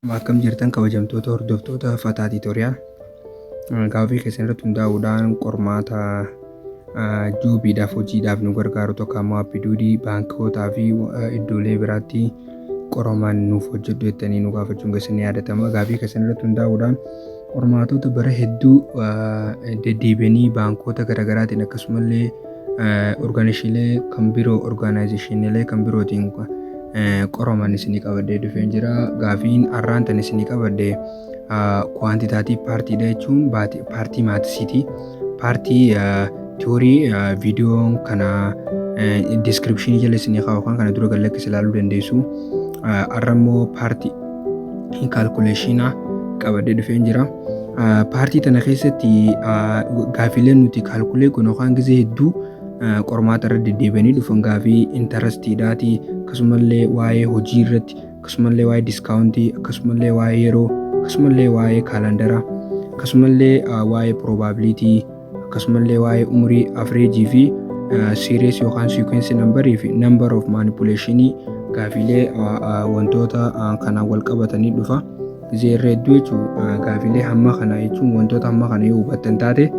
Akkam jirtan kabajamtoota hordoftoota Fataa Tiitooriyaal. Gaaffii keessan irratti hundaa'uudhaan qormaata joobiidhaaf hojiidhaaf nu gargaaru tokko ammoo appii duudii baankootaa fi iddoolee biraatti qoraman nuuf hojjedhu jettanii nu gaafachuun keessan ni yaadatama. Gaaffii keessan irratti hundaa'uudhaan qormaatota bara hedduu deddeebi'anii baankoota garaagaraatiin akkasumallee Orgaanishiilee kan biroo orgaanaayizeshiiniilee kan birootiin qoraman isinii qabadhee dhufee jira. Gaafiin har'aan tan isinii qabadhe kuwaantitaatii paartiidha jechuun paartii maatisiiti. Paartii tiyoorii viidiyoon kana diiskiripshinii jala isinii kaa'u kan kana dura gallakkise ilaaluu dandeessu. Har'a immoo paartii kaalkuleeshiinaa qabadhee dhufee jira. Paartii tana keessatti gaafiilee nuti kaalkulee kun yookaan gisee hedduu qormaata irra deddeebi'anii dhufan gaafii intarastiidhaati akkasumallee waa'ee hojii irratti akkasumallee waa'ee diskaawuntii akkasumallee waa'ee yeroo akkasumallee waa'ee kaalandaraa akkasumallee waa'ee piroobaabiliitii akkasumallee waa'ee umurii afreejii fi series yookaan sequence number fi number of manipulation gaafiilee wantoota kanaan wal qabatanii dhufa. Gizee irra hedduu jechuun gaafiilee hamma kana jechuun wantoota hamma kana yoo hubattan taate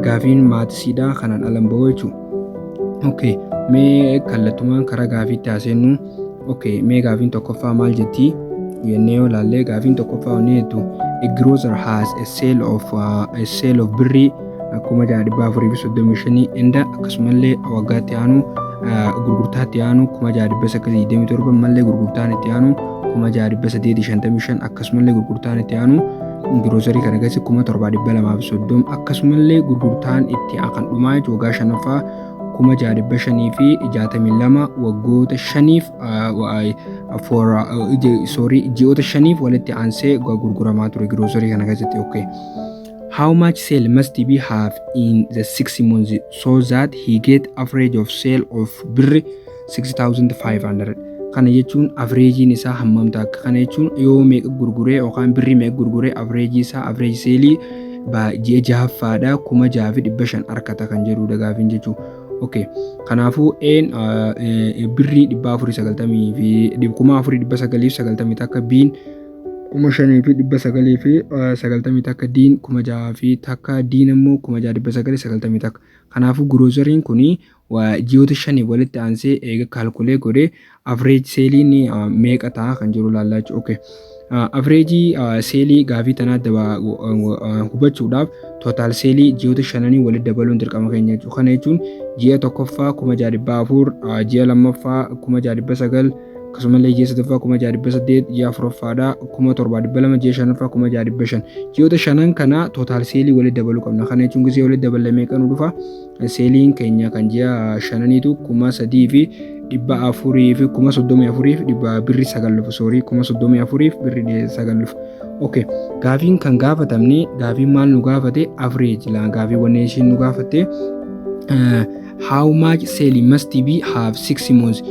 gaafiin maatisiidha kanaan alan ba'u jechuudha. Okay, mee kallattumaan karaa gaafiitti haaseennu. Okay, mee gaafiin tokkoffaa maal jetti? Jennee yoo ilaallee gaafiin tokkoffaa wanni jettu a grocer has a sale of uh, a sale of birrii kuma jaha dhibba afurii fi soddomii shanii inda akkasumallee waggaatti aanu uh, gurgurtaatti aanu kuma jaha dhibba sagalii digdamii torba mallee gurgurtaan itti aanu kuma jaha dhibba saddeetii shantamii shan akkasumallee gurgurtaan itti aanu giroosarii kana keessatti kuma torbaa dhibba lamaa fi soddom akkasumallee gurgurtaan itti kan dhumaa jechuudha waggaa shanaffaa kuma jaha dhibba shanii fi jaatamii lama waggoota shaniif soorii ji'oota shaniif walitti aansee gurguramaa ture giroosarii kana keessatti okay. How much sale must be have in the six months so that he get average of sale of birri 6500 kana jechuun avreejiin isaa hammam ta'a kana jechuun yoo meeqa gurguree yookaan birrii meeqa gurguree avreejii isaa avreeji seelii ji'a jahaffaadha kuma jaha fi dhibba shan argata kan jedhudha gaafiin jechuu okay kanaafuu een birrii dhibba afurii sagaltamii fi kuma afurii dhibba sagalii fi sagaltamii takka biin kuma shanii fi dhibba sagalii fi sagaltamii takka diin kuma jaha fi takka diin immoo kuma jaha dhibba sagalii sagaltamii takka kanaafuu giroosariin kun Ji'oota shaniif walitti aansee eega kaalkulee godhee average seeliin meeqa ta'a kan jiru ilaallaa jechuudha. Okay. Average seelii gaafii tanaa daba hubachuudhaaf total seelii ji'oota shananii walitti dabaluun dirqama keenya jechuudha. Kana jechuun ji'a tokkoffaa kuma ja'a dhibbaa afur, ji'a lammaffaa kuma ja'a dhibba sagal, akkasumallee ji'a sadaffaa kuma ja'a dhibba saddeet, ji'a afuraffaadha kuma torbaa dhibba lama, ji'a shanaffaa kuma ja'a dhibba shan. Ji'oota shanan kana total seelii walitti dabaluu qabna. Kana jechuun gisee walitti daballee meeqa nu dhufa? seeliin keenya kan ji'a shananiitu kuma sadii fi dhibba afurii fi kuma soddomii afurii fi dhibba birri sagal dhufu soorii kuma soddomii afurii fi birri sagal dhufu. Okay. Gaafiin kan gaafatamne gaafiin maal nu gaafate average laa gaafii wanni ishiin nu gaafatte uh, how much selling must be have six months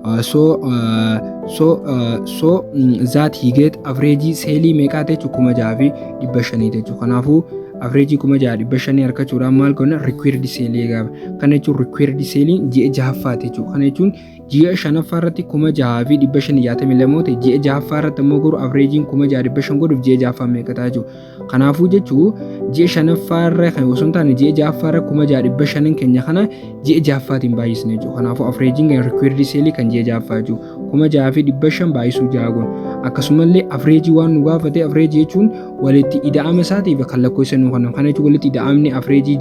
uh, so uh, so uh, so mm, that he get average selling meeqaa jechuun kuma jaha fi dhibba shanii jechuun kanaafuu Average 6500 harkachuudhaan maal goona required sale eegaama. Kana jechuun required sale ji'a jahaffaati jechuudha. Kana jechuun ji'a shanaffaa irratti 6562 ta'e ji'a jahaffaa irratti ammoo garuu averageen 6500 godhuuf ji'a jahaffaa meeqa ta'a jechuudha. Kanaafuu jechuun ji'a shanaffaa irra kan osoo hin taane ji'a jahaffaa irra 6500 keenya kana ji'a jahaffaatiin baay'isne jechuudha. Kanaafuu averageen required sale kan ji'a jahaffaa jechuudha. kuma jaha fi dhibba shan baay'isuu jaha goon akkasumallee afreejii waan nu gaafate afreejii jechuun walitti ida'ama isaatiif kan lakkoofsa nu kennan kana jechuun walitti ida'amni afreejii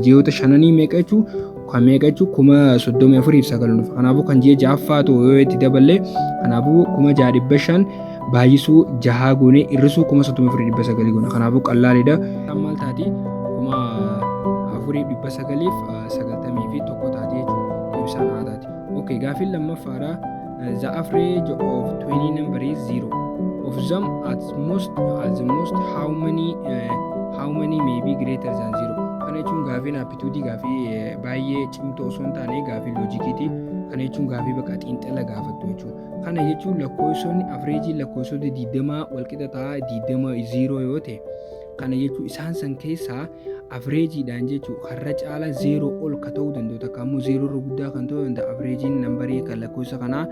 ji'oota shananii meeqa jechuun kan meeqa jechuun kuma soddomii afuriif sagal dhufa kanaafuu kan ji'a ja'affaa ta'u yoo itti daballee kanaafuu kuma jaha dhibba shan baay'isuu jahaa goonee hir'isuu kuma soddomii afurii dhibba sagalii goona kanaafuu qallaalidha. Maal taati kuma afurii dhibba sagaliif sagaltamii fi tokko taatee jechuudha. Ibsaan haa taati. Okay, gaaffiin lammaffaadha. The average of 20 number is 0. Of them at most at the most how many uh, how many may be greater than 0. Kana jechuun gaaffiin aptitude gaaffii eh, baay'ee cimtuu osoo hin taane gaaffii loojikiiti. Kana jechuun gaaffii bakka xiinxala gaafattu jechuudha. Kana jechuun lakkoofsonni average lakkoofsota 20 walqixa ta'a 20 0 yoo ta'e Kana jechuun isaan san keessaa avreejiidhaan jechuun har'a caalaa zeeroo ol ka ta'uu danda'u takka ammoo zeeroo irra guddaa kan ta'uu danda'a avreejiin nambarii kan lakkoofsa kanaa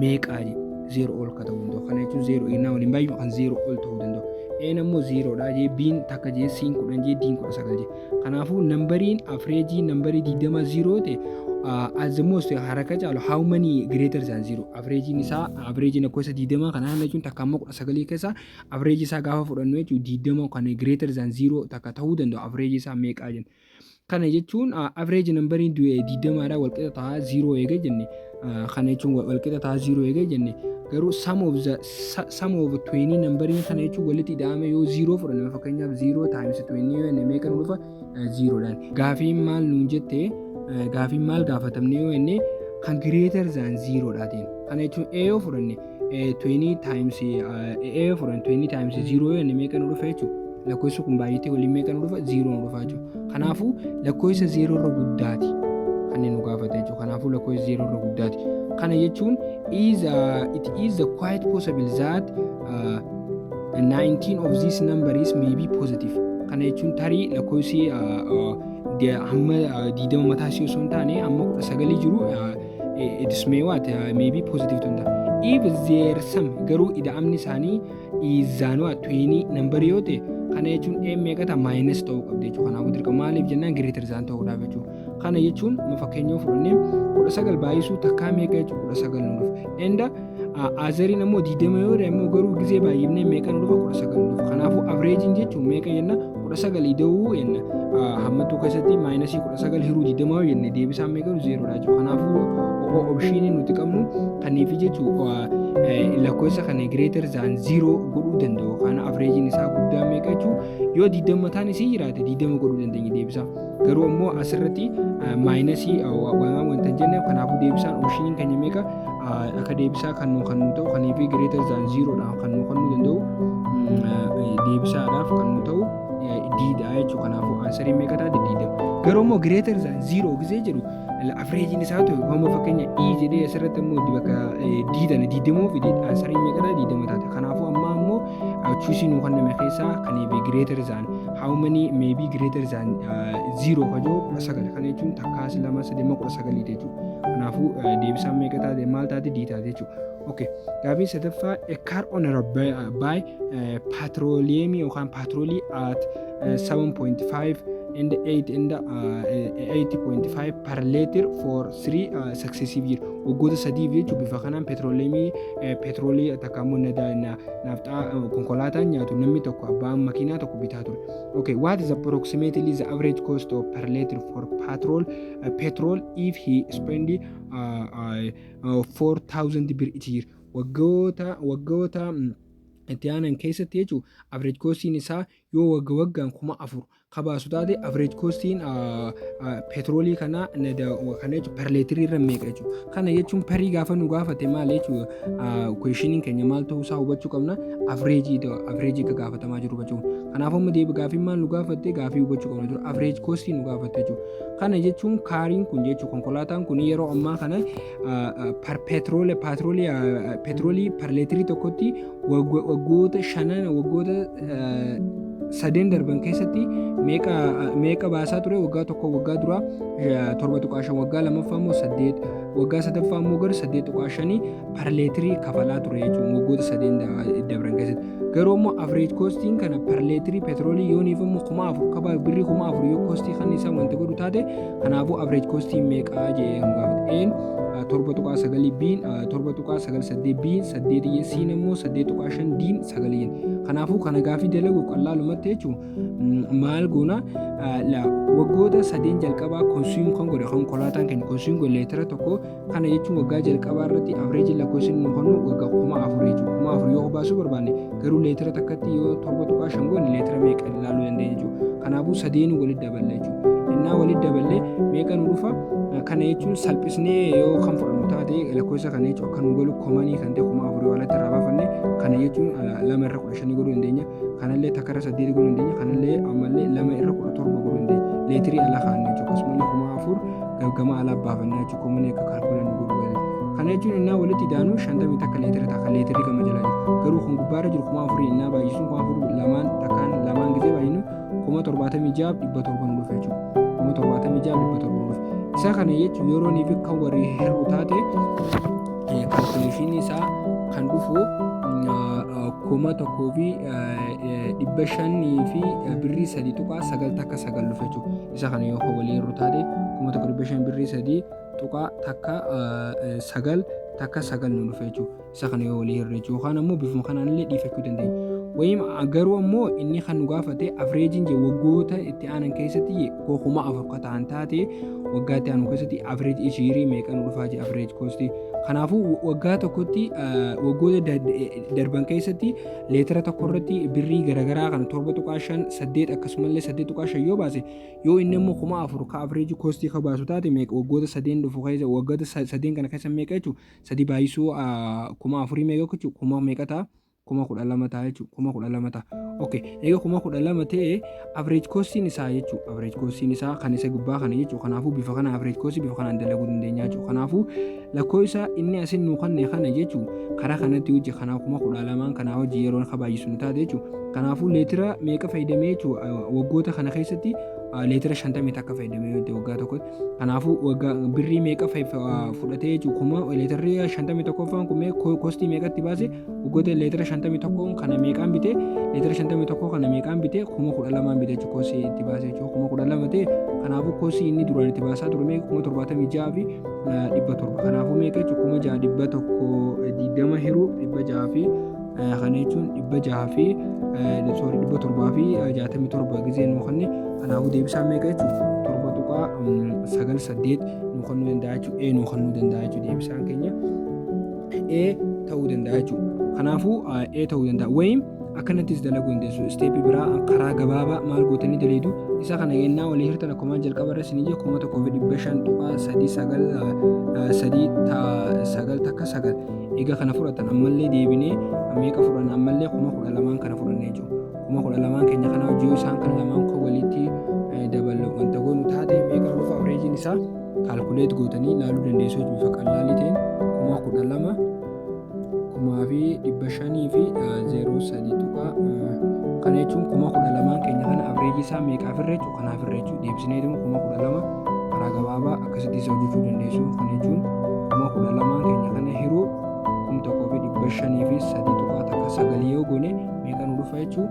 meeqaa jedhu zeeroo ol ka ta'uu danda'u kana jechuun zeeroo eegnaa waliin baay'ee kan zeeroo ol ta'uu danda'u een ammoo zeeroodha jee biin takka jee siin kudhan jee diin kudha sagal jee kanaafuu nambariin avreejii nambarii digdama zeeroo ta'e as the most haraka caalu how many greater than zero avreejiin isaa avreejiin lakkoofsa digdamaa kanaa jechuun takka ammoo kudha sagalii keessaa Average isaa gaafa fudhannu jechuun 20 kan greater than 0 takka ta'uu danda'u average isaa meeqaa jenna. Kana jechuun average nambariin 20 dha walqixa ta'a 0 eega jenne kana jechuun walqixa ta'a 0 eega jenne garuu sum of the sum of 20 nambariin kana jechuun walitti ida'ame yoo 0 fudhanne fakkeenyaaf 0 times 20 yoo jenne meeqa nu dhufa 0 dhaan. Gaafiin maal nuun jette gaafiin maal gaafatamne yoo jenne kan greater than 0 dhaateen kana jechuun A yoo fudhanne 20 times A4 and 20 times 0 yoo inni meeqa nu dhufa jechuudha. Lakkoofsi kun baay'atee waliin meeqa nu dhufa? 0 nu dhufa jechuudha. Kanaafuu lakkoofsa 0 irra guddaati kan nu gaafate jechuudha. Kanaafuu lakkoofsa 0 irra guddaati. Kana jechuun is uh, it is the quite possible that uh, 19 of these numbers may be positive. Kana jechuun tarii lakkoofsi uh, uh, hamma 20 mataa ishee osoo hin taane hamma 19 jiru uh, It's may what? Uh, maybe positive to that. If there some garuu ida'amni isaanii izaanoo attuinii nambar yoo ta'e kana jechuun m meeqata maayinus ta'uu qabdi jechuudha. Kanaafuu dirqama maaliif jennaan greater than ta'uudhaaf jechuudha. Kana jechuun fakkeenyaaf fudhannee kudha sagal baay'isuu takkaa meeqa jechuudha kudha sagal nuuf. Enda Aazariin ammoo diidama yoo immoo garuu gizee baay'ifnee meeqa nu dhufa kudha sagal dhufa. Kanaafuu avreejiin jechuun meeqa jenna kudha sagal ida'uu jenna. Hammattuu keessatti maayinasii kudha sagal hiruu diidama yoo jenne deebisaan meeqa nu zeeroodha jechuudha. Kanaafuu obshiinii nuti qabnu kaniifi jechuun lakkoofsa kana gireetar zaan ziiroo godhuu danda'u. Kana avreejiin isaa guddaa meeqa jechuun yoo diidama taan isii jiraate diidama godhuu dandeenya deebisaa. garuu immoo asirratti maayinasii wamaa wanta hin jenne kanaafuu deebisaan oopshiniin keenya meeqa akka deebisaa kan nu kan nu ta'u kan fi greater than zero dhaan kan nu kan nu danda'u deebisaadhaaf kan nu ta'u diidha jechuudha kanaafuu aansariin meeqa taate diidama garuu immoo greater than zero gisee jedhu Afreejiin isaa ta'u homo fakkeenya E jedhee asirratti immoo itti bakka diidana diidamoo fi aansariin meeqadha diidama taate. Kanaafuu ammaa immoo chuusii nuu kenname keessaa kan eebe greater than how many may be greater than zero kajoo kudha sagal kana jechuun takkaas lama sadii kudha sagalii jechuudha. Kanaafuu deebisaan meeqa taate maal taate dii taate jechuudha. Okay. Gaafiin sadaffaa a car owner of buy, uh, buy uh, petroleum yookaan petrolii at uh, 7.5 and 8 and uh, 8.5 per liter for 3 uh, successive year waggoota sadiif jechuun bifa kanaan petroleemii uh, petrolii takka immoo nada na, naafxaa uh, konkolaataan nyaatu namni tokko abbaan makiinaa tokko bitaa ture. Okay, what is approximately the average cost of per liter for petrol uh, petrol if he spend uh, uh, 4000 bir itti jira waggoota waggoota itti aanan keessatti jechuun average costiin isaa yoo wagga waggaan kuma afur kabaasu taate average costiin petroolii kanaa kana jechuun per leetirii irra meeqa jechuudha. Kana jechuun perii gaafa nu gaafate maal jechuudha kuweeshiniin keenya maal ta'uu isaa hubachuu qabna average average akka gaafatamaa jiru hubachuu qabna. Kanaafuu amma deebi gaafiin maal nu gaafatte gaafii hubachuu qabna jiru average costiin nu gaafatte jechuudha. Kana jechuun kaariin kun jechuun konkolaataan kun yeroo ammaa kana petroole petroolii parleetirii tokkotti waggoota shanan waggoota sadeen darban keessatti meeqa baasaa ture waggaa tokko waggaa dura torba tuqaa shan waggaa lamaffaa immoo saddeet waggaa sadaffaa immoo gara saddeet tuqaa shanii parleetirii kafalaa ture jechuun waggoota sadeen dabran keessatti. garuu immoo average costiin kana per leetirii petroolii yooniif immoo kuma afur qaba birrii kuma afur yoo kostii kan isaa wanta godhu taate kanaafuu average costiin meeqaa jee kan gaafate een torba tuqaa sagalii biin torba tuqaa sagal saddeet biin saddeet iyyee siin immoo saddeet tuqaa shan diin sagaliin kanaafuu kana gaafii dalagu qal'aalumatti jechuun maal goona waggoota sadeen jalqabaa konsuum kan godhe konkolaataan keenya konsuum godhe leetira tokko Kana jechuun waggaa jalqabaa irratti avreejiin lakkoofsi inni nu kennu waggaa kuma afur jechuudha. Kuma afur yoo baasuu barbaanne garuu leetira takkatti yoo torba tuqaa shan goone leetira meeqa ilaaluu dandeenya jechuudha. Kanaafuu sadeenuu walitti daballe jechuudha. Innaa walitti daballe meeqa nu dhufa? Kana jechuun salphisnee yoo kan fudhannu taate lakkoofsa kana jechuun akka nu galu komanii kan ta'e kuma afurii walatti irraa baafanne kana jechuun lama irra kudha shanii godhuu dandeenya. Kanallee takka irra saddeetii godhuu dandeenya. Kanallee ammallee lama irra kudha torba godhuu dandeenya. Leetirii ala kaa'anne jechuudha. Akkasumallee kuma afur gama alaa baafannaa jechuun koomanii akka kaalkuulan nu godhu galee kana jechuun innaa walitti idaanuu shantamii takka leetira ta'a kan leetirri gama jalaa jiru garuu kun gubbaarra jiru kuma afurii innaa baay'isuun kuma afur lamaan takkaan lamaan gisee baay'inu kuma torbaatamii ja'a dhibba torba nu dhufe jechuudha kuma torbaatamii ja'a dhibba torba nu dhufe isa kana jechuun yeroo niif kan warri hir'u taate kaalkuleeshinii isaa kan dhufu kuma tokkoo fi dhibba shanii fi birrii sadii tuqaa sagal takka sagal dhufe jechuudha. isa kana yoo kan walii irru taate kuma tokko dhibba shan birrii sadii tuqaa takka sagal takka sagal nu dhufe jechuudha isa kana yoo walii irra jechuudha yookaan ammoo bifuma kanaan illee dhiifachuu dandeenya. Wayim garuu ammoo inni kan nu gaafate afreejiin jee waggoota itti aanan keessatti koo kuma afur ka ta'an taate waggaa itti aanu keessatti afreej ishiirii meeqa nu dhufaa jee afreej koosti. Kanaafuu waggaa tokkotti waggoota darban keessatti leetira tokko irratti birrii garaagaraa kana torba tuqaa shan saddeet akkasumallee saddeet tuqaa shan yoo baase yoo inni immoo kuma afur ka average koostii ka baasu taate meeqa waggoota sadeen dhufu keessa waggoota sa- sadeen kana keessa meeqa jechuun sadii baay'isuu ah, kuma afurii meeqa jechuun kuma meeqa ta'a kuma kudha lama ta'a jechuun kuma kudha lama ta'a. Okay, egaa kuma kudha lama ta'e Average costiin isaa jechuun average costiin isaa kan isa gubbaa kana jechuun kanaafuu bifa kana average cost bifa kanaan dalaguu dandeenya jechuun kanaafuu lakkoo isaa inni asin nuu kanne kana jechuun karaa kanatti hojii kanaa kuma kudha lamaan kanaa hojii yeroo akka baay'isu nu taate jechuun kanaafuu leetira meeqa fayyadamee jechuun waggoota kana keessatti leetira shantamii takka fayyadamee waggaa tokkotti Kanaafuu waggaa birrii meeqa fudhatee jechuudha. Kuma leetarri shantamii tokkoffaan kun mee kostii meeqatti baase waggoota leetara shantamii tokkoon kana meeqaan bitee leetara shantamii tokkoo kana meeqaan bitee kuma kudha lamaan bitee jechuudha kostii itti baase jechuudha kuma kudha lama ta'e kanaafuu kostii inni duraan itti baasaa ture meeqa kuma torbaatamii ja'a fi dhibba torba kanaafuu meeqa jechuudha kuma ja'a dhibba tokko digdama hiruu dhibba ja'a fi Kana jechuun dhibba jaha fi sorry dhibba torbaa fi jaatamii torba gizee nuu kanne kanaafuu deebisaa meeqa jechuudha torba tuqaa sagal saddeet nuu kannuu danda'a jechuudha ee nuu kannuu danda'a jechuudha deebisaan keenya ee ta'uu danda'a jechuudha kanaafuu ee ta'uu danda'a wayim akkanattis dalaguu dandeessu isteepii biraa karaa gabaabaa maal gootanii daleedu isa kana yennaa walii hirtan akkuma jalqaba irra isinii jedhu kuma tokkoo fi dhibba shan tuqaa sadii sagal sadii sagal takka sagal Egaa kana fudhatan ammallee deebinee meeqa fudhanna ammallee kuma kudha lamaan kana fudhannee jiru. Kuma kudha lamaan keenya kana hojii yoo isaan kana lamaan koo walitti eh, daballu wanta goonu taate meeqa dhufa oreejiin isaa kaalkuleet gootanii ilaaluu dandeessu hojii bifa qalaalii ta'een kuma kudha lama kumaa fi dhibba shanii fi eh, zeeroo sadii tuqaa eh, kana jechuun kuma kudha lamaan keenya kana average isaa meeqaaf irra jechuudha. kanaaf irra jechuudha deebisineetuma kuma kudha lama karaa gabaabaa akkasitti isa hojjechuu dandeessu kana jechuun kuma kudha lamaa keenya kana hiruu kum tokkoo fi dhibba shanii fi sadii tuqaa takka sagalii yoo goone meeqa nu dhufa jechuun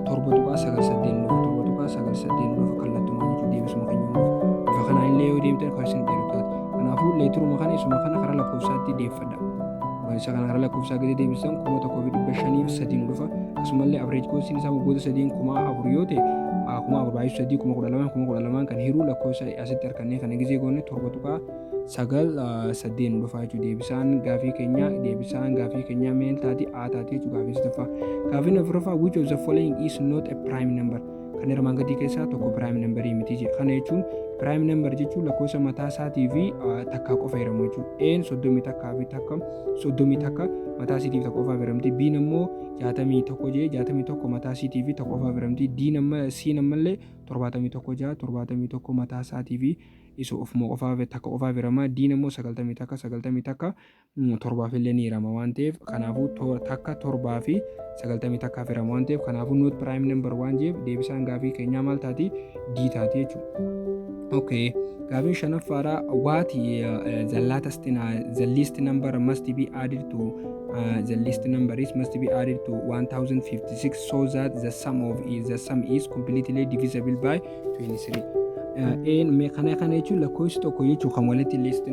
torba tuqaa sagal saddeet nu dhufa torba tuqaa sagal saddeet nu dhufa kallattumaa jechuun deebisuma keenya nu dhufa bifa kanaan illee yoo deemtan kan isin dheeru taate kanaafuu leetiruma kana isuma kana karaa lakkoofsaatti deeffadha. isa kana gara lakkoofsaa gadi deebisan kuma tokkoo fi dhibba shanii fi sadiin dhufa akkasumallee average koostiin isaa waggoota sadiin kuma afur yoo ta'e kuma afur baay'isuu sadii kuma kudha lamaan kuma kudha lamaan kan hiruu lakkoofsa asitti harkannee kana gizee goone torba tuqaa sagal sadeen dhufa jechuudha deebisaan gaafii keenya deebisaan gaafii keenya meel taati aa taati jechuudha gaafii sadaffaa gaafiin afuraffaa which of the following is not a prime number kan armaan gadii keessaa tokko piraayim nambarii miti jedha kana jechuun piraayim nambar jechuun lakkoofsa mataa isaatii fi takkaa qofa hiramu jechuudha een soddomii takkaa fi takka soddomii takka mataa isiitiif tokko qofaaf hiramti biin ammoo jaatamii tokko jee jaatamii tokko mataa isiitii fi tokko qofaaf hiramti diin amma siin ammallee torbaatamii tokko jaa torbaatamii tokko mataa isaatii fi isa ofuma qofaaf takka qofaaf hirama diin ammoo sagaltamii takka sagaltamii takka torbaaf illee ni hirama waan ta'eef kanaafuu to- takka torbaa fi sagaltamii takkaaf hirama waan ta'eef kanaafuu not prime number waan jeef deebisaan gaafii keenyaa maal taati d taati jechuudha. Okay. Gaafii shanaffaadha what uh, the latest in, uh, the least number must be added to uh, the least number is must be added to 1056 so that the sum of is the sum is completely divisible by Een mee kana kana jechuun lakkoofsi tokko jechuun kan walitti liist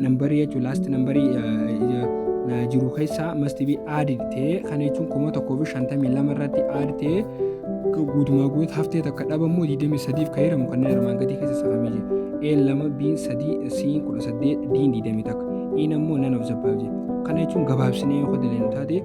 nambarii jechuun laast nambarii jiru keessaa must be added ta'ee kana jechuun kuma tokkoo fi shantamii lama irratti add ta'ee guutumaa guutuutti haftee takka dhabamu 23f kan jedhamu kanneen armaan gadii keessa saaqamee jira. A lama B sadii C kudha saddeet D 21 E ammoo nan of zabbaa jedha. Kana jechuun gabaabsinee yoo dalagnu taate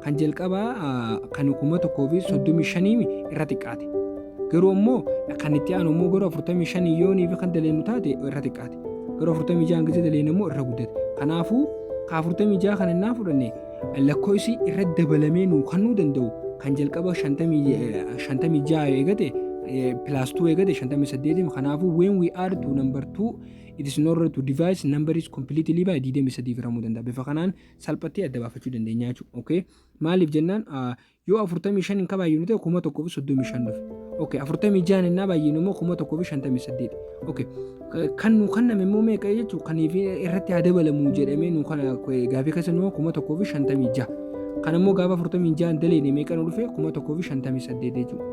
Kan jalqabaa kan 1035 irra xiqqaate. Garuu ammoo kan itti aanu immoo garuu 45 yoonii fi kan daleennu taate irra xiqqaate. Garuu 46 gisee daleennu immoo irra guddate. Kanaafuu ka 46 kan innaa fudhanne lakkoofsi irra dabalamee nuu kannuu danda'u kan jalqaba 56 eegate plus 2 eegate 58 kanaafuu when we add to number 2 it is not right to divide number is completely by 23 firamuu danda'a. Bifa kanaan salphattee adda baafachuu dandeenya jechuudha. Okay? Maaliif jennaan ah, yoo 45 hin kabaayyinu ta'e 1035 dhufe. Okay, 46 hin baay'inu immoo 1058. Okay. eh, Kan nu kenname immoo meeqa jechuudha? Kan irratti haa dabalamu jedhamee nu kana eh, gaafii keessa immoo 1056. Kan immoo gaafa 46 daleene meeqa nu dhufe 1058 jechuudha.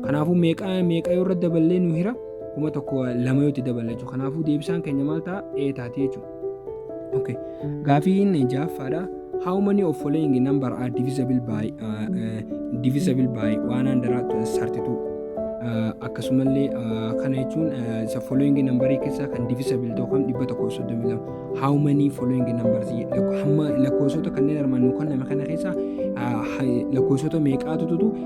Kanaafuu meeqa meeqa yoo irratti daballee nu hira 1000 lama yoo itti daballa jechuudha. Kanaafuu deebisaan keenya maal ta'a? Ee taatee jechuudha. Okay. Gaafiin ja'affaadha. How many of following number are divisible by uh, uh, divisible by 132? Uh, akkasumallee uh, kana jechuun uh, isa following number keessaa kan divisible ta'u kan 132 how many following numbers lakkoofsota kanneen armaan nu kenname kana keessaa uh, lakkoofsota meeqaatu tutu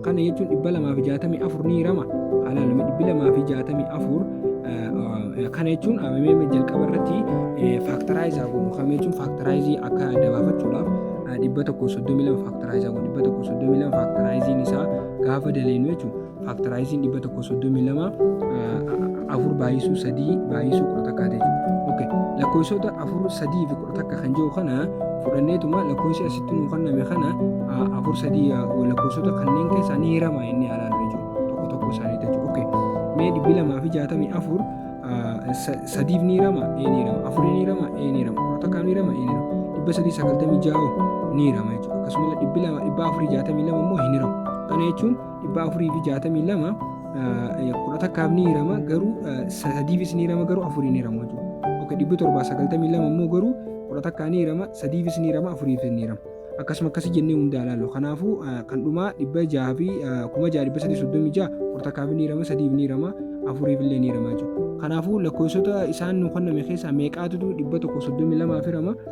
Kana jechuun 264 ni hirama. Alaalame 264 kana jechuun amamee jalqaba irratti faaktaraayisaa godhu kana jechuun faaktaraayizii akka adda baafachuudhaaf 132 faaktaraayisaa godhu 132 faaktaraayiziin isaa gaafa daleenu jechuun faaktaraayiziin 132 afur baay'isuu sadii baay'isuu kudha takkaa ta'e. Lakkoofsota afur sadii fi takka kan jiru kana fudhanneetuma lakkoofsi asitti nuu kenname kana afur sadii lakkoofsota kanneen keessaa ni hirama inni alaa irra jiru tokko tokko isaanii jechuudha. Okay. Mee dhibbi lamaa fi jaatamii afur sadiif ni hirama ee ni hirama afurii ni hirama ee ni hirama kudha takkaa ni hirama ee ni hirama dhibba sadii sagaltamii ja'a ni hirama jechuudha. Akkasumas dhibbi lama dhibba afurii jaatamii lama immoo hin hiramu. Kana jechuun dhibbaa afurii fi jaatamii lama kudha takkaaf ni hirama garuu sadiifis ni hirama garuu afuriin hirama jechuudha. Oke dhibbi torbaa sagaltamii lama immoo garuu kudha takkaa ni hirama sadiifis ni hirama afuriifis ni hirama. Akkasuma akkasi jennee hundaa ilaalu. Kanaafuu kan dhumaa dhibba jaha fi kuma jaha dhibba sadii soddomii jaha kudha takkaaf ni hirama sadiif ni hirama afuriif illee ni hirama jechuudha. Kanaafuu lakkoofsota isaan nu kenname keessaa meeqaatu dhibba tokko soddomii lamaaf hirama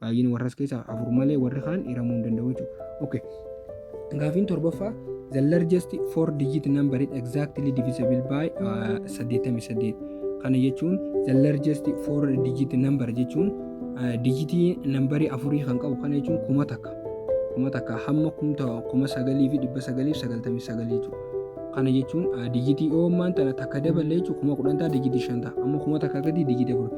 Baay'een warras keessaa afur malee warri kaan hiramuu hin danda'u jechuudha. Okay. Gaafiin torbaffaa the largest four digit number is exactly divisible by uh, 88. Kana jechuun the largest four digit number jechuun uh, digitii nambarii afurii kan qabu kana jechuun kuma takka. Kuma takka hamma kumta kuma sagalii fi dhibba sagalii fi sagaltamii sagalii jechuudha. Kana jechuun uh, digitii oomaan tana takka dabalee jechuun kuma kudhan ta'a digitii shan ta'a. Amma kuma takka gadi digitii afur.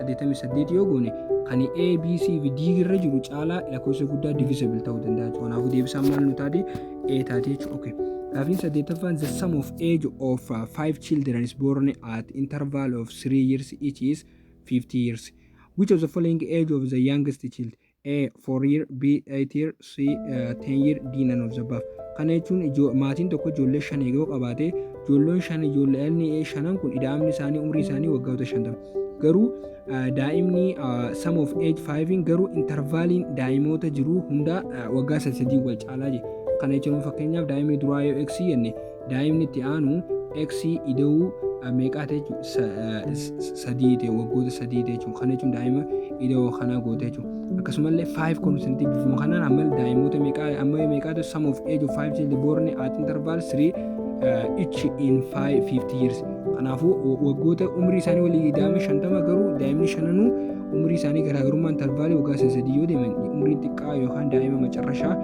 88 yoo goone kan A, B, C fi D irra jiru caalaa lakkoofsa guddaa divisible ta'uu danda'a jechuudha. Kanaafuu deebisaan maal nu taati? A taati jechuudha. Okay. Gaafiin saddeettaffaan the sum of age of uh, five children is born at interval of three years each is 50 years. Which of the following age of the youngest child? A, four year, B, eight year, C, uh, ten year, D, none of the above. Kana jechuun ijoo- maatiin tokko ijoollee shan yoo qabaate ijoolleen shan ijoollee dhalli ee shanan kun ida'amni isaanii umrii isaanii waggoota shantama. Garuu uh, daa'imni uh, sum of age five'n garuu intervaaliin daa'imoota jiruu hundaa uh, waggaa sadii wal caalaa jira. Kana jechuun fakkeenyaaf daa'imni duraa yoo x jenne Daa'imni itti aanu x ida'uu meeqaa ta'e jechuudha sadii ta'e waggoota sadii ta'e jechuudha kana jechuun daa'ima ida'oo kanaa goote jechuudha akkasumallee five consent bifuma kanaan amma daa'imoota meeqaa amma meeqaa ta'e sum of age of five children born at interval three uh, each in five fifty years kanaafuu waggoota umrii isaanii walii daa'ima shantama garuu daa'imni shananuu umrii isaanii garaagarummaa intervaalii waggaa sadii yoo deeman umrii xiqqaa yookaan daa'ima macarrashaa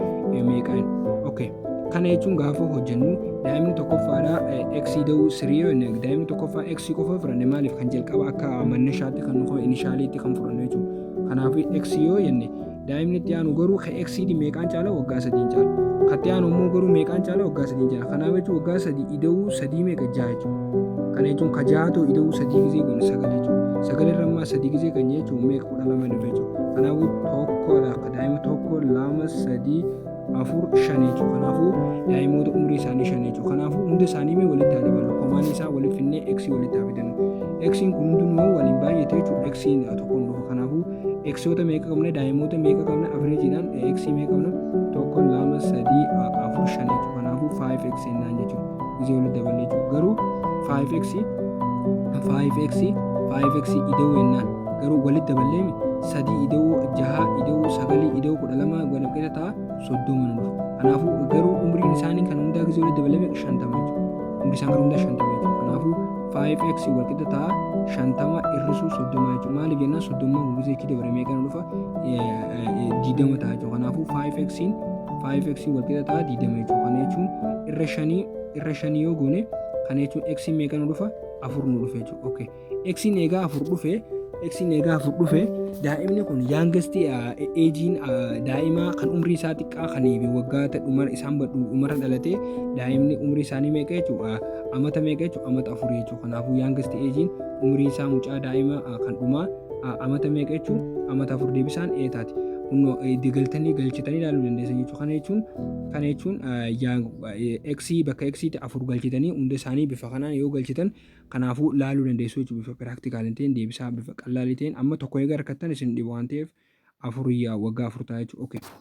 meeqaan okay Kana jechuun gaafa hojjennu daa'imni tokkoffaadhaa x da'uu sirii yoo inni daa'imni tokkoffaa x qofa fudhanne maaliif kan jalqaba akka mannashaatti kan nuuf inishaaliitti kan fudhannu jechuudha. Kanaafuu x yoo jenne daa'imni itti aanu garuu ka x di meeqaan caala waggaa sadiin caala. Ka itti aanu immoo garuu meeqaan caala waggaa sadiin caala. Kanaaf jechuun waggaa sadii ida'uu sadii meeqa jaha jechuudha. Kana jechuun ka jaha ta'u ida'uu sadii gizee kun sagal jechuudha. Sagal irra ammaa sadii gizee kan jechuun meeqa kudha lama dhufe jechuudha. Kanaafuu tokkodha. Daa'imni tokko lama sadii afur shan jechuudha. Kanaafuu daa'imoota umrii isaanii shan jechuudha. Kanaafuu hunda isaanii mee walitti haa dabalu. Komaan isaa walitti finnee x walitti haa fidannu. x kun hundinuu waliin baay'ate jechuudha. x tokkoon dhufa. Kanaafuu xoota meeqa qabna daa'imoota meeqa qabna avreejiidhaan x meeqa qabna tokko lama sadii afur shan jechuudha. Kanaafuu 5x jennaan jechuudha. Gisee walitti dabalee jechuudha. Garuu 5x 5x 5x ida'uu jennaan. Garuu walitti daballee sadii ida'uu jahaa ida'uu sagalii ida'uu kudha lama waliin qeeta ta'a soddoma nu dhufa. Kanaafuu garuu umriin isaanii kan hundaa gisee walitti dabalame shantama jechuudha. Umri isaan kan hundaa shantama jechuudha. Kanaafuu 5x wal qixa ta'a shantama hir'isuu soddoma jechuudha. Maaliif jennaan soddoma gisee itti dabalame meeqa nu dhufa digdama ta'a jechuudha. Kanaafuu 5x 5x wal qixa ta'a digdama jechuudha. Kana jechuun irra shanii irra shanii yoo goone kana jechuun x meeqa nu dhufa afur nu dhufa jechuudha. Okay. Eksiin eegaa afur dhufe eksiin eegaa afur dhufe daa'imni kun yaangestii eejiin daa'imaa kan umrii isaa xiqqaa kan waggaa dhumara isaan dhumara dhalatee daa'imni umrii isaanii meeqa jechuudha amata meeqa jechuudha amata afur jechuudha kanaafuu yaangestii eejiin umrii isaa mucaa daa'ima kan dhumaa amata meeqa jechuun amata afur deebisaan ee taati. Kunoo galtanii galchitanii ilaaluu dandeessan jechuudha. Kana jechuun kana jechuun eeksii bakka eeksiitti afur galchitanii hunda isaanii bifa kanaan yoo galchitan Kanaafuu laaluu dandeessu jechuudha bifa piraaktikaalii ta'een deebisaa bifa qallaalii ta'een amma tokko eega argattan isin dhiba waan ta'eef afur yaa waggaa afur ta'a jechuudha. Okay.